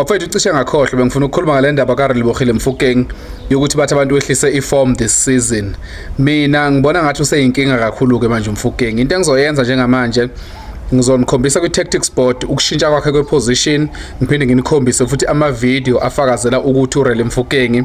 Bafethu cishe ngakhohlwa bengifuna ukukhuluma ngale ndaba kaRelibohile Mfukeng yokuthi bathi abantu wehlise iform this season. Mina ngibona ngathi useyinkinga kakhulu ke manje uMfukeng. Into engizoyenza njengamanje ngizonikhombisa kwi-tactics board ukushintsha kwakhe kwe-position ngiphinde nginikhombise futhi ama-video afakazela ukuthi urele mfukengi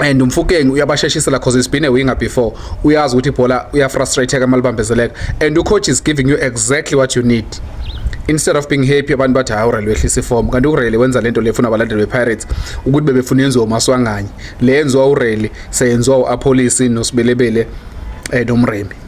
and umfukeng uyabasheshisela because he's been a winger before uyazi ukuthi ibhola uyafrustratheka uma libambezeleka and ucoach is giving you exactly what you need instead of being happy abantu bathi hayi urele wehlisa iform kanti urele wenza lento lefuna abalandeli bepirates ukuthi bebefuna yenziwa umaswanganye le yenziwa urele seyenziwa u-apolisi nosibelebele um nomremi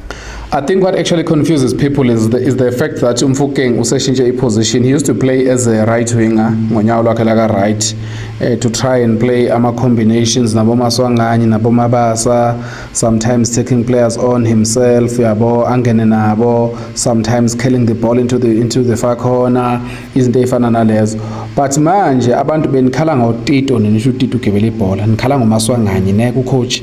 I think what actually confuses people is the, is the fact that Umfukeng useshintshe i-position. He used to play as a right winger ngonyawo lwakhe laka right uh, to try and play ama-combinations nabomaswanganye nabomabasa sometimes taking players on himself yabo angene nabo sometimes killing the ball into the, into the far corner izinto ey'fana nalezo but manje abantu benikhala ngotito ninisho utito ugibela ibhola nikhala ngomaswanganye ne kucoach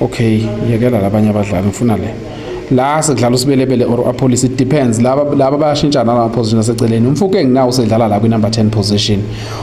okay yekela labanye abadlali ngifuna le la sekudlala usibelebele or apolice it depends laba laba bayashintshana la position aseceleni umfuke nginawo usedlala la kwi number 10 position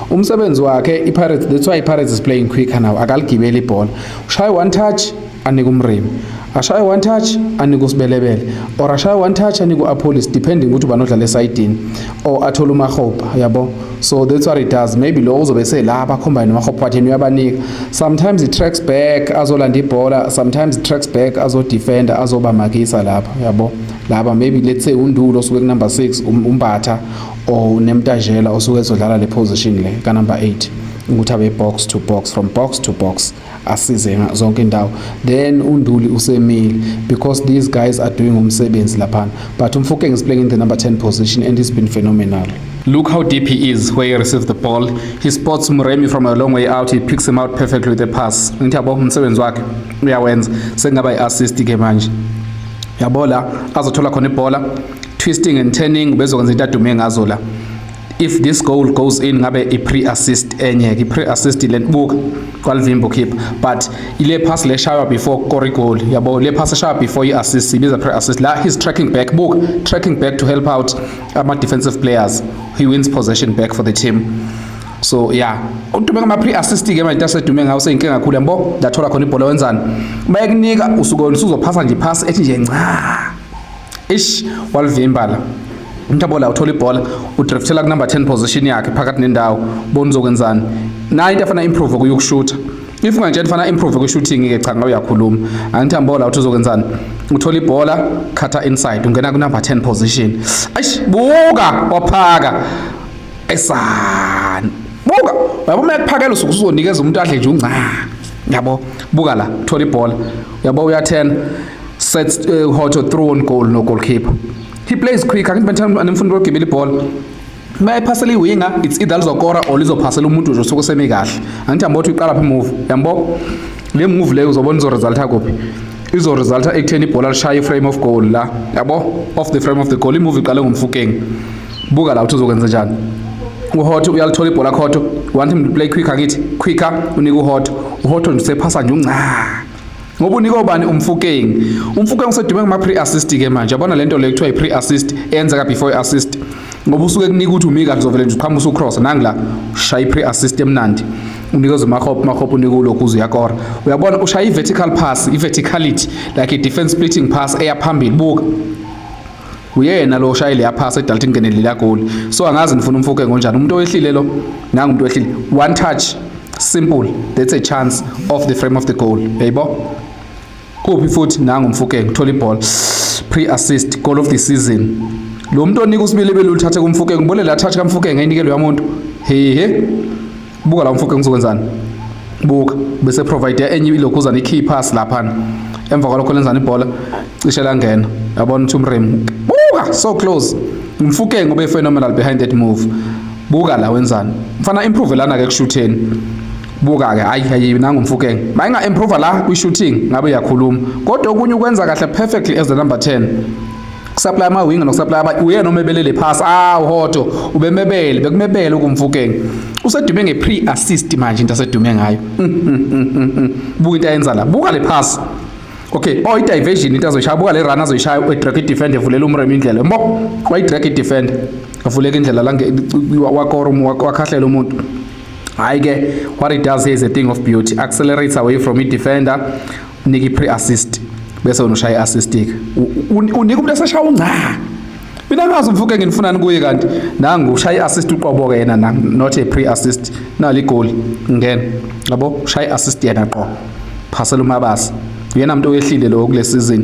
umsebenzi wakhe i Pirates that's why i Pirates is playing quicker now akaligibeli ibhola ushaye one touch anika umrimi ashaye one touch anika usibelebele or ashaye one touch anika uApolis depending ukuthi ubanodlala esayidini or athola umahopa yabo so that's what it does maybe lo uzobe sela abakhombayo nomahophatheni uyabanika sometimes it tracks back azolanda ibhola sometimes it tracks back azodefenda azobamakisa lapha yabo laba maybe let's say undulo osuke kunumber 6 um, umbatha or nemtajela osuke ezodlala le position le kanumber 8 ukuthi abe box to box from box to box asize zonke indawo then unduli usemile because these guys are doing umsebenzi laphana but umfokeng is playing in the number 10 position and he's been phenomenal Look how deep he is where he receives the ball. He spots Muremi from a long way out. He picks him out perfectly with a pass. Ngithi yabo umsebenzi wakhe uyawenza. Sengaba i-assist ke manje. Yabo la azothola khona ibhola. Twisting and turning bezokwenza into adume ngazo la. if this goal goes in ngabe i pre assist enye ke pre assist le buka kwalivimbo keep but ile pass le shaywa before kore goal yabo le pass shaywa before i assist ibiza pre assist la he's tracking back book tracking back to help out ama defensive players he wins possession back for the team so yeah udume ngama pre assist ke manje asedume ngawo seyinkinga kakhulu yabo ndathola khona ibhola wenzani bayekunika usuke usuzophasa nje pass ethi nje ncaa ish walivimbala umthabola uthola ibhola udriftela kunumber 10 position yakhe phakathi nendawo bona uzokwenzani naye into afana improve kuyokushutha if ungangitshela fana improve kwi-shooting ke cha ngabe uyakhuluma angithi ambola uthi uzokwenzani uthola ibhola khatha inside ungena kunumber 10 position eish buka waphaka esani buka yabo uma ekuphakela usuke uzonikeza umuntu adle nje unca yabo buka la thola ibhola yabo uyathena sets uh, how to throw on goal no goalkeeper he plays quick angithi bantwana anemfundo lokugibela ibhola mayiphasela iwinga it's either lizokora or lizophasela umuntu nje osuke semi kahle angithi ambothi uyiqala phi move yambo le move leyo uzobona izo resulta kuphi izo resulta ekutheni ibhola lishaya iframe of goal la yabo off the frame of the goal imove iqale ngomfukeng buka la uthi uzokwenza njani uhoto uyalithola ibhola khoto want him to play quicker ngithi quicker unika uhoto uhoto nje usephasa nje unca ngoba unika obani umfukeng umfukeng usedume ngama pre assist ke manje yabona lento le kuthiwa i pre assist enza ka before assist ngoba usuke kunika ukuthi umika kuzovele nje uqhamusa ucross nangila shaya pre assist emnandi unikeza umakhop makhop unika ulokhu uze uyakora uyabona ushaya i vertical pass i verticality like a defense splitting pass eya phambili buka uyena lo oshayile yaphasa edalta ingenele lila goli so angazi nifuna umfoke ngonjani umuntu owehlile lo nangu umuntu owehlile one touch simple that's a chance off the frame of the goal yayibo kuphi futhi nangu umfoke ngithola iball pre assist goal of the season lo muntu onika usibili belulithathe kumfoke ngibone la touch kamfoke ngayinikelwe yamuntu hehe buka la mfoke ngizokwenzani buka bese provide enye ilokhuzana i-key pass laphana emva kwalokho lenzani ibhola cishe langena yabona ukuthi umrem buka so close umfukeng ube phenomenal behind that move buka la wenzani mfana improve lana ke kushutheni buka-ke hayi hayi nangu mfukeng mayinga-improva la kwi-shooting ngabe uyakhuluma kodwa okunye ukwenza kahle perfectly as the number 10 kusaplaya amawinga nokusaplaya abanye uyena omebelele phasi awu hodo ubemebele bekumebele ukumfukeng usedume nge-pre assist manje into asedume ngayo mm, mm, mm, buka into ayenza la buka le phasi okay oh i-diversion into azoyishaya buka le run azoyishaya udrag idefender evulela umrem indlela mbo wayidrag idefender avuleka indlela la wakora wakhahlela umuntu hhayi-ke what it does here is a thing of beauty accelerates away from i-defender nika i-pre assist bese wena ushaya i-assistic unika umuntu eseshaya ungca mina ngazi umfuke nginifunani kuye kanti nangu ushaya i-assist uqobo-ke yena na not a pre assist nali igoli ngena yabo ushaya i-assist yena qo phasela umabasa uyena muntu oyehlile lowo kule season